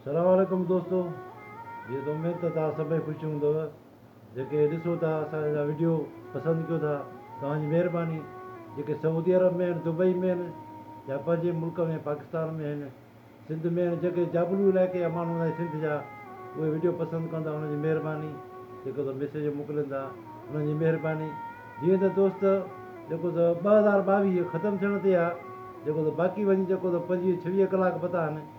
سلام عليڪم دوستو جيئن ته اميد ته توهان سڀئي خوش هوندؤ جيڪي ڏسو ٿا اسان جا وڊيو پسند ڪيو ٿا توهان جي مهرباني جيڪي سعودي عرب ۾ آهن دبئي ۾ آهن يا پنهنجي ملڪ ۾ پاڪستان ۾ آهن سنڌ ۾ آهن جيڪي جابلو علائقي جا ماڻهو هوندا آهن سنڌ جا اهي وڊيو پسند ڪن ٿا انهن جي مهرباني جيڪو ته ميسيج موڪلين ٿا انهن جي مهرباني جيئن ته دوست جيڪو ته ٻه هزار ٻاويهه ختم ٿيڻ تي آهي جيڪو ته باقي وڃي جيڪو ته پنجويهه ڇويهه ڪلاڪ پتا آهن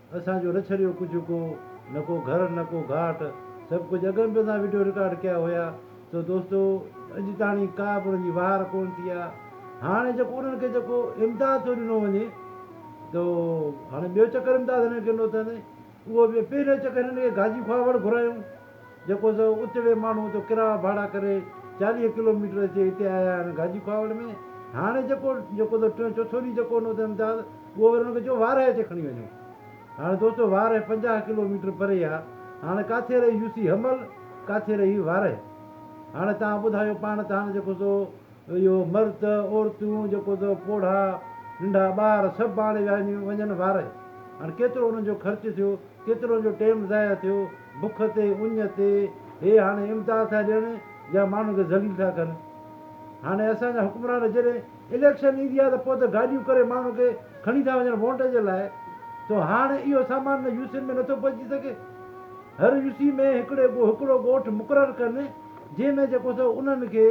اسان جو رڇريو ڪجهه ڪو نه ڪو گهر نه ڪو گهاٽ سڀ ڪجهه اڳ ۾ به اسان وڊيو رڪارڊ ڪيا هيا سو دوستو اڄ تاڻي ڪا به انهن جي وهار ڪون ٿي آ هاڻي جيڪو انهن کي جيڪو امداد ٿو ڏنو وڃي تو هاڻي ٻيو چڪر امداد هنن کي ڏنو اٿن اهو به پهريون چڪر هنن کي گاجي کواوڙ گهرايون جيڪو سو اتڙي ماڻهو جو ڪراء ڀاڙا ڪري چاليهه ڪلو ميٽر اچي هتي آيا آهن گاجي کاهوڙ ۾، هاڻي جيڪو جيڪو سو ٽيون چوٿون ڏينهن جيڪو هوندو اٿن امتياز اهو وري هن کي چئو وارهه اچي کڻي وڃو. هاڻي دوستو وارهه پنجاهه ڪلو ميٽر پري آ، هاڻي ڪاٿي رهي يوسي حمل ڪاٿي رهي وارهه. هاڻي توهان ٻڌايو پاڻ ته هاڻي جيڪو سو اهو مرد، عورتون، جيڪو ته پوڙها، ننڍا ٻار سڀ ڀاڙي ويا هنيون وڃن وارئي. هاڻ ڪيترو انهن جو خرچ ٿيو، ڪيترو انهن جو ٽيم ضايع ٿيو، بک تي، اڃ تي، هي هاڻي امداد ٿا ڏين يا ماڻهن کي ذليل ٿا ڪن. هاڻي اسان جا حڪمران جڏهن اليڪشن ايندي آ ته پوء ته گاڏيون ڪري ماڻهن کي کڻي ٿا وڃن وونٽ جي لاء تو هاڻ اهو سامان نه يو سين ۾ نٿو پهچي سگهي. هر يو سين ۾ هڪڙي هڪڙو ڳوٺ مقرر ڪن جنهن ۾ جيڪو ته انهن کي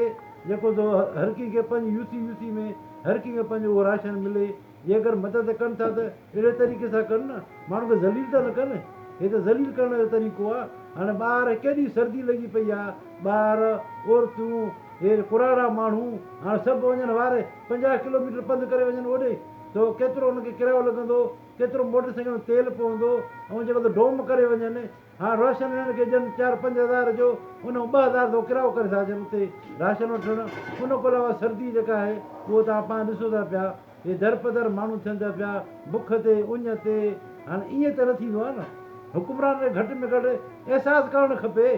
جيڪو ٿو هر ڪنهن کي پنهنجي يوسي يوسي ۾ هر ڪنهن کي پنهنجو اهو راشن ملي جي اگر مدد ڪن ٿا ته اهڙي طريقي سان ڪن نه ماڻهن کي ذليل ته نه ڪن هي ته ذليل ڪرڻ جو طريقو آ هاڻي ٻاهر ڪيڏي سردي لڳي پئي آ ٻار عورتون هي ڪراڙا ماڻهو هاڻي سڀ وڃن وار پنجاهه ڪلو ميٽر پنڌ ڪري وڃن اوڏي ته ڪيترو انهن کي ڪرايو لڳندو ڪيترو موٽر سائيڪل ۾ تيل پوندو ۽ جيڪو ته ڊوم ڪري وڃن هاڻ راشن ويڻ کي جن چار پنج هزار جو ان مان ٻه هزار ٿو ڪرايو ڪري سگهجن اتي راشن وٺڻ ان کان علاوه سردي جيڪا آهي اهو توهان پاڻ ڏسو ٿا پيا هي درپدر ماڻهو ٿين ٿا پيا بک تي اڃ تي هاڻ ائين ته نه ٿيندو آهي نه حڪمرانن کي گهٽ ۾ گهٽ احساس ڪرڻ کپي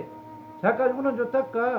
ڇاڪاڻ جو انهن جو تڪ آهي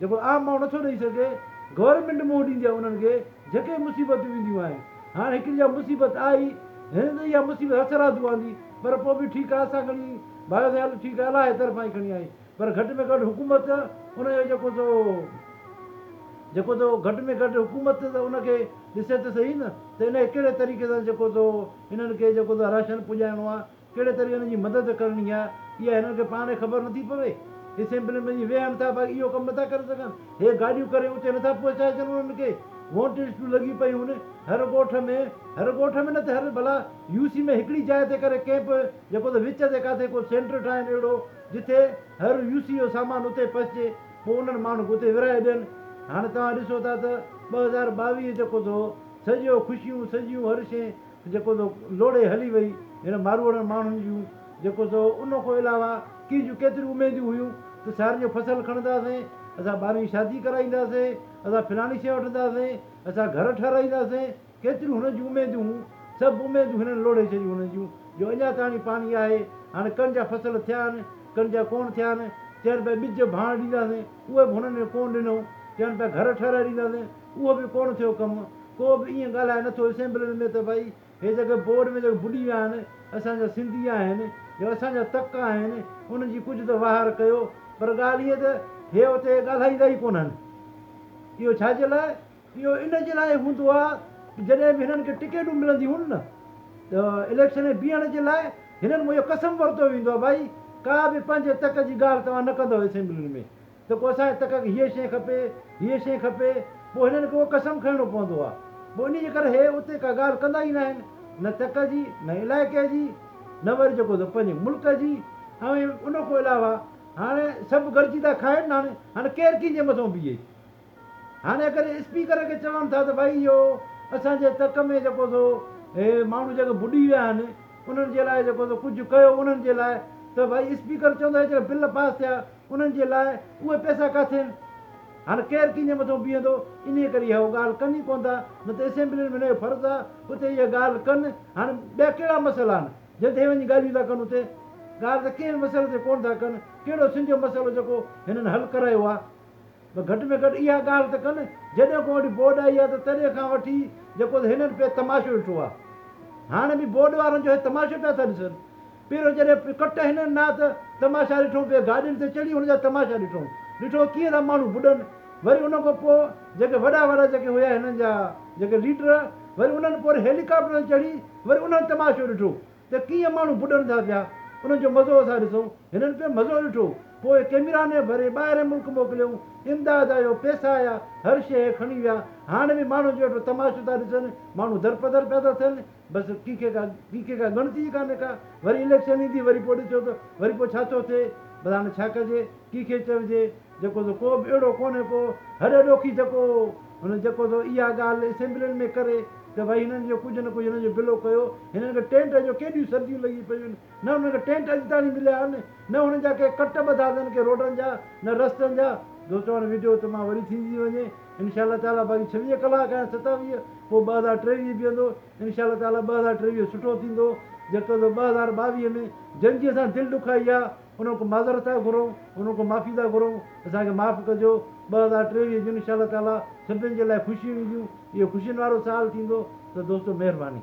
جيڪو عام ماڻهو نٿو ڏئي سگهي، گورنمينٽ منهن ڏيندي آهي انهن کي جيڪي مصيبتون اينديون آهن، هاڻ هڪڙي جا مصيبت آئي، هن ته اها مصيبت هٿ رادو آندي، پر پوء به ٺيڪ آهي اسان کڻي بايو ٿي هل ٺيڪ آهي الله جي طرفان ئي کڻي آئي، پر گهٽ ۾ گهٽ حڪومت ان جو جيڪو سو جيڪو سو گهٽ ۾ گهٽ حڪومت ته ان کي ڏسي ته سهي نه ته ان کي ڪهڙي طريقي سان جيڪو سو انهن کي جيڪو سو راشن پڄائڻو آهي. ڪهڙي طرح هن جي مدد ڪرڻي آهي اها هنن کي پاڻ خبر نٿي پوي. اسيمبلين ۾ وڃي ويهن ٿا باقي اهو ڪم نٿا ڪري سگهن. هي گاڏيون ڪري اتي نٿا پهچائي سگهن انهن کي. وونٽ لسٽون لڳيون پيون هر ڳوٺ ۾ هر ڳوٺ ۾ نه ته هر ڀلا يو سي ۾ هڪڙي جاء تي ڪري ڪئمپ جيڪو ته وچ تي ڪاٿي ڪو سينٽر ٺاهين اهڙو جتي هر يو سي جو سامان اتي پهچي پوء انهن ماڻهن کي اتي ورهائي ڏين. هاڻي توهان ڏسو ٿا ته ٻه هزار ٻاويهه جيڪو ته سڄو خوشيون سڄيون هر شيء جيڪو تو لوڙهي هلي وئي هن ماروئڙن ماڻهن جون جيڪو تو ان کان علاوه ڪي جون ڪيتريون اميدون هيون ته سيارن جو فصل کڻنداسين اسان ٻارن جي شادي ڪرائينداسين اسان فلاڻي شيء وٺنداسين اسان گهر ٺهرائينداسين ڪيتريون هنن جون اميدون هون سڀ اميدون هنن لوڙهي ڇڏيون هنن جون جو اڃا تاڻي پاڻي آهي هاڻي ڪڻ جا فصل ٿيا آهن ڪڻ جا ڪونه ٿيا آهن چين پيا ٻج ڀاڻ ڏينداسين اهي به هنن ڪونه ڏنو چين پيا گهر ٺهرائي ڏينداسين اهو به ڪونه ٿيو ڪم، ڪو به ائين ڳالهائي نٿو اسيمبلين ۾ ته ڀائي هي جيڪي بورڊ ۾ جيڪي ٻڏي ويا آهن اسان جا سنڌي آهن يا اسان جا تڪ آهن انهن جي ڪجهه ته واهر ڪيو پر ڳالهه هيء ته هي اتي ڳالهائيندا ئي ڪونهن اهو ڇا جي لاء؟ اهو ان جي لاء هوندو آهي ته جڏهن به هنن کي ٽڪيٽون ملنديون نه ته اليڪشن ۾ بيهڻ جي لاء هنن مان اهو قسم ورتو ويندو آهي ڀائي ڪا به پنهنجي تڪ جي ڳالهه توهان نه ڪندؤ اسيمبلين ۾ ته ڪو اسان کي تڪ تڪ هيء شيء کپي، هيء شيء کپي، پوء هنن کي اهو قسم کڻڻو پوندو آهي. پوء انهيء جي ڪري هي اتي ڪا ڳالهه ڪندا ئي ناهن، نه تڪ جي، نه علائقي جي، نه وري جيڪو ته پنهنجي ملڪ جي. ۽ ان کان علاوه هاڻ سڀ گڏجي ٿا کائن نه، هاڻ هاڻ ڪير ڪنهن جي مٿان بيهي؟ هاڻ اگر اسپيڪر کي چون ٿا ته ڀائي اهو اسان جي تڪ ۾ جيڪو ته هي ماڻهو جيڪي ٻڏي ويا آهن، انهن جي لاء جيڪو ته ڪجهه ڪيو انهن جي لاء، ته ڀائي اسپيڪر چوندو هي جيڪي بل پاس ٿيا، انهن جي لاء اهي پئسا ڪاٿي آهن؟ هاڻ ڪير ڪنهن جي مٿو بيهندو؟ انهيء ڪري اهو ڳالهه ڪن ئي ڪونه ٿا، نه ته اسيمبلين ۾ هن جو فرض آ اتي اهي ڳالهه ڪن، هاڻ ٻيا ڪهڙا مسئلا آهن، جن تي اهي وڃي ڳالهيون ٿا ڪن اتي؟ ڳالهه ته ڪنهن به مسئلي تي ڪونه ٿا ڪن، ڪهڙو سنڌ جو مسئلو جيڪو هنن حل ڪرايو آ؟ ته گهٽ ۾ گهٽ اها ڳالهه ته ڪن جڏهن کان هيڏي ٻوڏ آئي آهي ته تڏهن کان وٺي جيڪو ته هنن پي تماشو ڏٺو آهي هاڻي به ٻوڏ وارن جو هي تماشو پيا ٿا ڏسن پهريون جڏهن پي ڪٽ هنن ناٿ تماشا ڏٺو پي گاڏين تي چڙهي هن جا تماشا ڏٺو ڏٺو ڪيئن ٿا ماڻهو ٻڏن وري ان کان پوء جيڪي وڏا وڏا جيڪي هيا هنن جا جيڪي ليڊر وري انهن پوري هيليڪاپٽر تي چڙهي وري انهن تماشو ڏٺو ته ڪيئن ماڻهو ٻڏن ٿا پيا، انهن جو مزو اسان ڏسون، هنن به مزو ڏٺو، پوء ڪيميراني ڀري ٻاهرين ملڪ موڪليائون، امداد آيو، پئسا آيا، هر شيء کڻي ويا، هاڻ به ماڻهن ويٺو تماشو ٿا ڏسن، ماڻهو درپدر پيا ٿا ٿين، بس ڪنهن کي ڪا ڪنهن کي ڪا ڳڻتي ئي ڪانهي ڪا، وري اليڪشن ايندي وري پوء ڏسجو ته وري پوء ڇا ٿو ٿئي، بس هاڻي ڇا ڪجي. ڪي کي چئجي جيڪو سو ڪو به اهڙو ڪونهي ڪو هڏ ڏوکي جيڪو هن جيڪو سو اها ڳالهه اسيمبلين ۾ ڪري ته ڀائي هنن جو ڪجهه نه ڪجهه هنن جو بلو ڪيو هنن کي ٽينٽ جو ڪيڏيون سرديون لڳي پيون آهن نه هنن کي ٽينٽ اڄ تائين مليا آهن نه هنن جا ڪي ڪٽ ٻڌا اٿن ڪي روڊن جا نه رستن جا دوستو هاڻي وڊيو ته مان وري ٿيندي ٿي وڃي انشاء الله تعالي باقي ڇويهه ڪلاڪ آهن ستاويهه پوء ٻه هزار ٽيويهه بيهندو انشاء الله تعالي ٻه هزار ٽيويهه سٺو ٿيندو جيڪو سو ٻه هزار ٻاويهه ۾ جنجي سان دل ڏکائي آ انهن کان معذرت ٿا گهرون، انهن کان معافي ٿا گهرون، اسان کي معاف ڪجو، ٻه هزار ٽيويهه جون انشاء الله تعاليٰ سڀني جي لاء خوشيون اينديون، اهو خوشين وارو سال ٿيندو ته دوستو مهرباني.